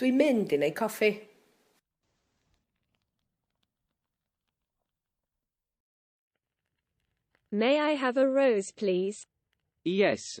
Dwi'n mynd i wneud coffi. May I have a rose, please? Yes.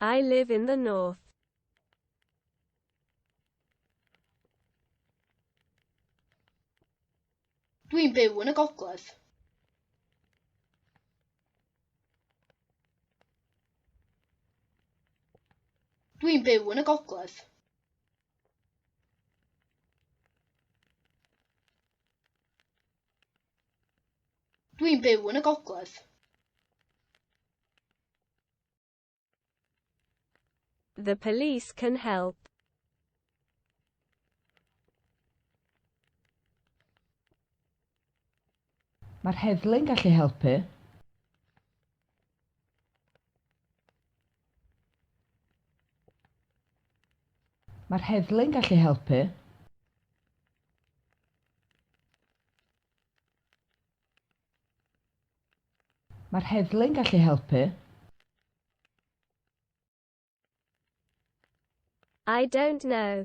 I live in the north. Dwi'n byw yn y gogledd. Dwi'n byw yn y gogledd. Dwi'n byw yn y gogledd. The police can help. Mae'r heddlu'n gallu helpu. Mae'r heddlu'n gallu helpu. Mae'r heddlu'n gallu helpu. I don't know.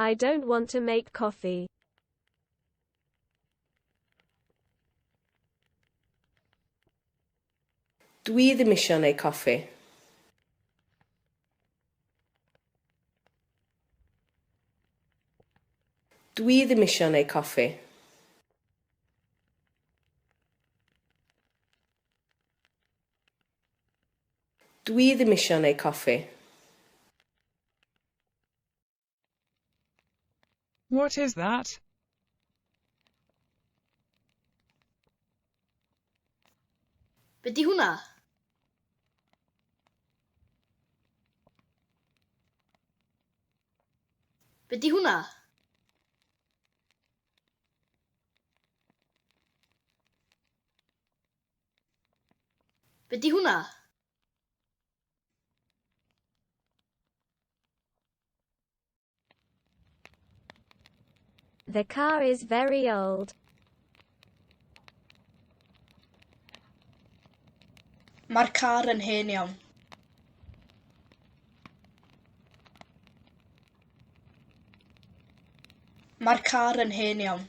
I don't want to make coffee. Dwi ddim eisiau neu coffi. Dwi ddim eisiau neu coffi. Dw i ddim isio neu coffi. What is that? Be di hwnna? Be di hwnna? Be di hwnna? The car is very old. Mae'r car yn hen iawn. Mae'r car yn hen iawn.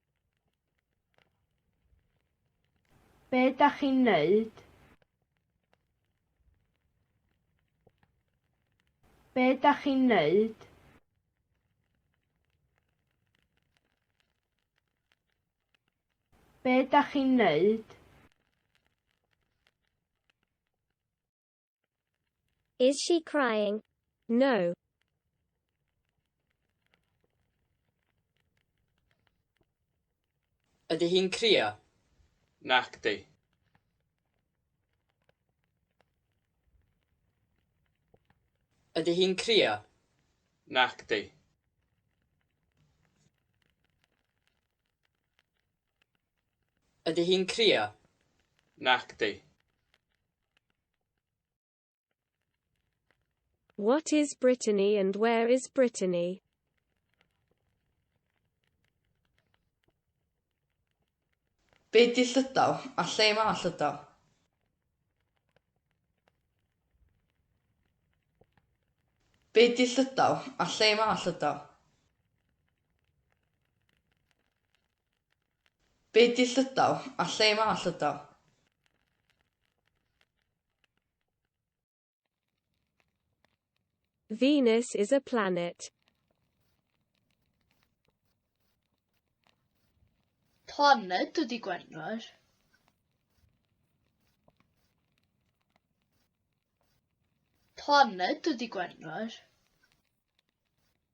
Be da chi'n neud? Be da chi'n neud? Be da chi'n neud? Is she crying? No. Ydy hi'n crio? Nacdi. Ydy hi'n crio? Nacdi. Ydy hi'n crio? Nacdi. What is Brittany and where is Brittany? Be di Llydaw, a lle mae Llydaw? Be di Llydaw, a lle mae Llydaw? Be di llydaw? A lle mae llydaw? Venus is a planet. Planed ydi Gwenwar. Planed ydi Gwenwar.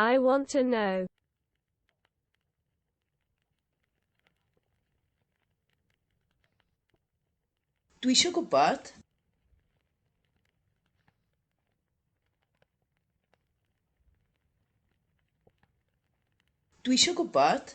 I want to know. Dwi eisiau gwybod. Dwi eisiau gwybod.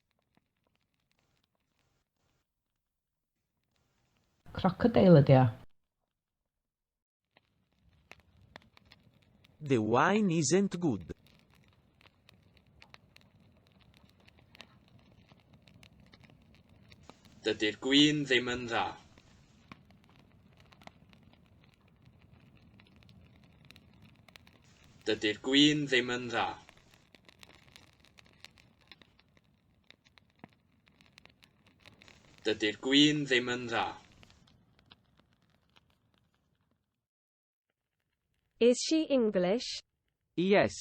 Crocodile ydy o. The wine isn't good. Dydy'r gwin ddim yn dda. Dydy'r gwin ddim yn dda. Dydy'r gwin ddim yn dda. Is she English? Yes.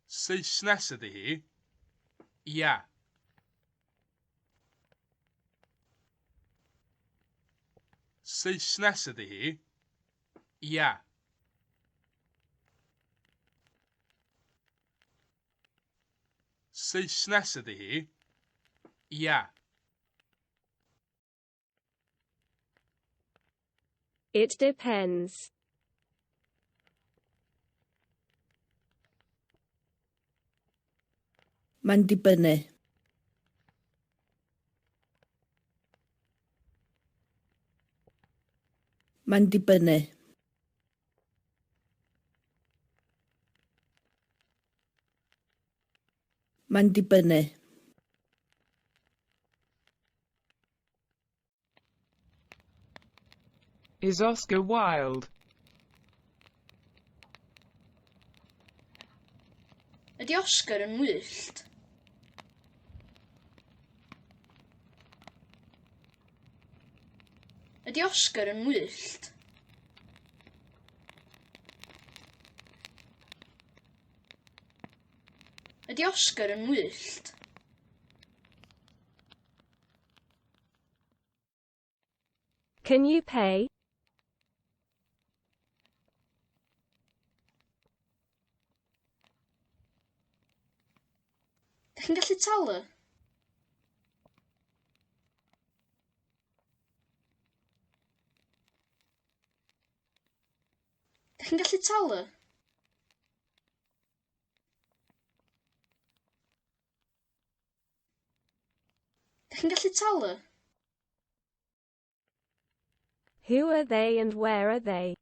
Saesnes ydy hi? Ia. Saesnes ydy hi. Ia. Saesnes ydy hi. Ia. It depends. Mae'n dibynnu. Mae'n dibynnu. Mae'n dibynnu. Is Oscar Wilde. Ydy Oscar yn wyllt? Ydy Oscar yn wyllt? Ydy Oscar yn wyllt? Can you pay? Dych chi'n gallu talu? Dych chi'n gallu talu? Dych chi'n gallu talu? Who are they and where are they?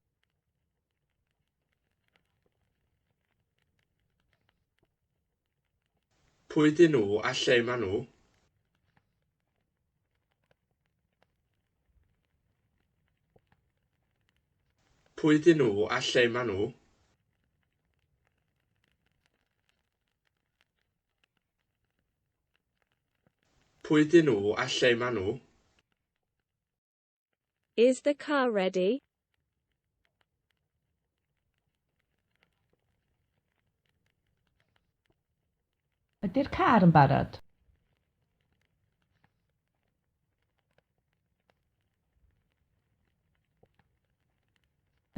Pwy dyn nhw a lle maen nhw? Pwy dyn nhw a lle maen nhw? Pwy ydyn nhw a lle maen nhw? Is the car ready? Ydy'r car yn barod?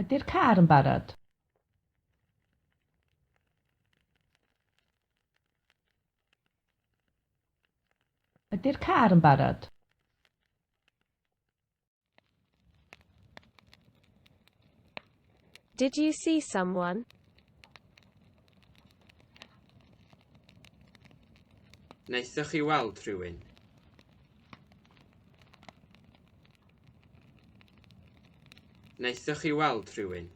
Ydy'r car yn barod? Ydy'r car yn barod? Did you see someone? Wnaethoch chi weld rhywun? Wnaethoch chi weld rhywun?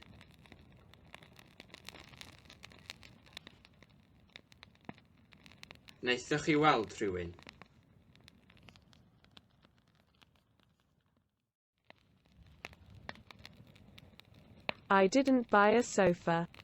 Wnaethoch chi weld rhywun? I didn't buy a sofa.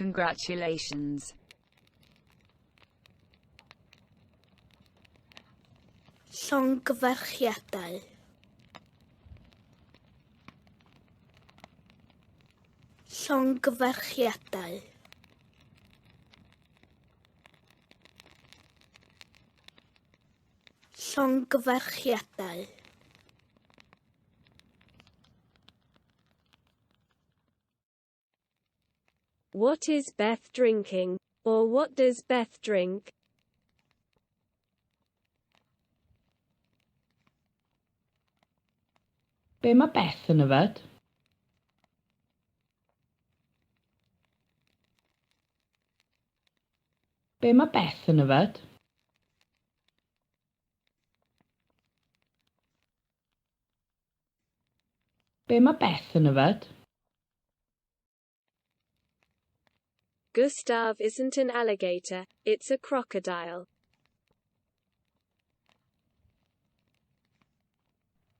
Congratulations. Llongyfarchiadau. Llongyfarchiadau. Llongyfarchiadau. What is Beth drinking? Or what does Beth drink? Be mae Beth yn yfed? Be mae Beth yn yfed? Be mae Beth yn yfed? Gustav isn't an alligator, it's a crocodile.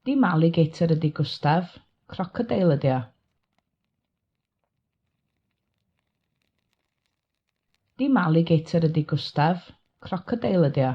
Dim alligator ydy Gustav, crocodile ydy o. Dim alligator ydy Gustav, crocodile ydy o.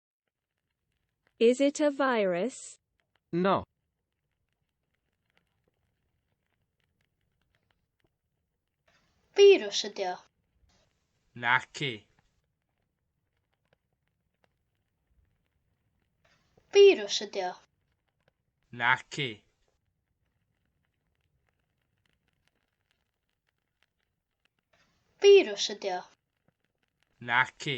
Is it a virus? No. Virus ydi o. Naci. Virus ydi o. Naci. Virus ydi o. Naci.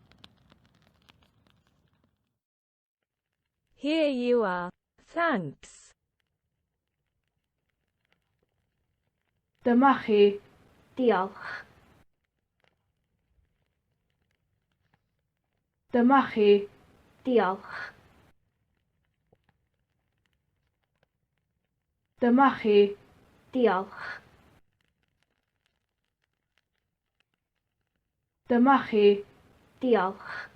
Here you are. Thanks. Dyma chi. Diolch. Dyma chi. Diolch. Dyma chi. Diolch. Dyma chi. Diolch.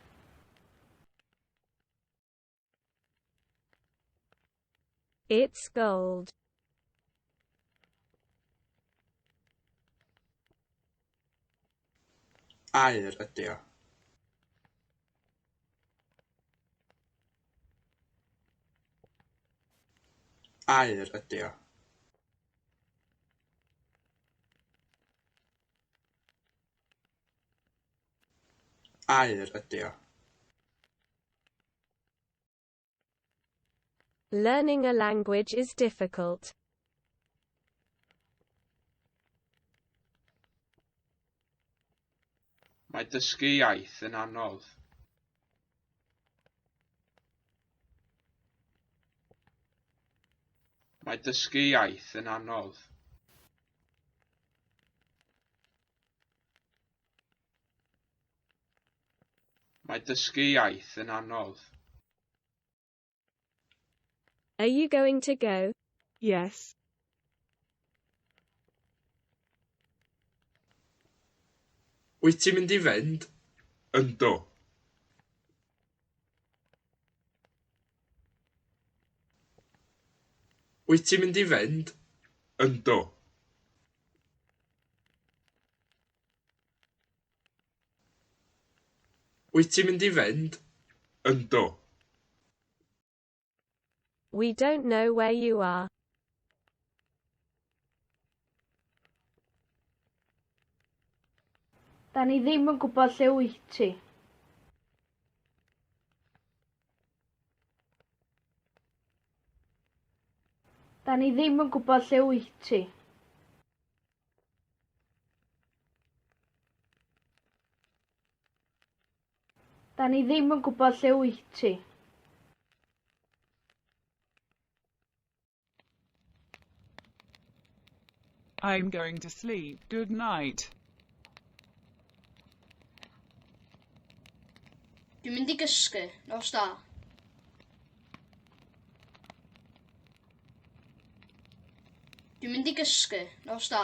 It's gold. Aur ydy o. Aur ydy o. Aur ydy o. Learning a language is difficult. Mae dysgu iaith yn anodd. Mae dysgu iaith yn anodd. Mae dysgu iaith yn anodd. Are you going to go? Yes. Wyt ti'n mynd i fynd? Yndw. Wyt ti'n mynd i fynd? Yndw. Wyt ti'n mynd i fynd? Yndw. We don't know where you are. Da ni ddim yn gwybod lle wyt ti. Da ni ddim yn gwybod lle wyt ti. Da ni ddim yn gwybod lle wyt ti. I'm going to sleep, good night. Dwi'n mynd i gysgu, nos da. Dwi'n mynd i gysgu, nos da.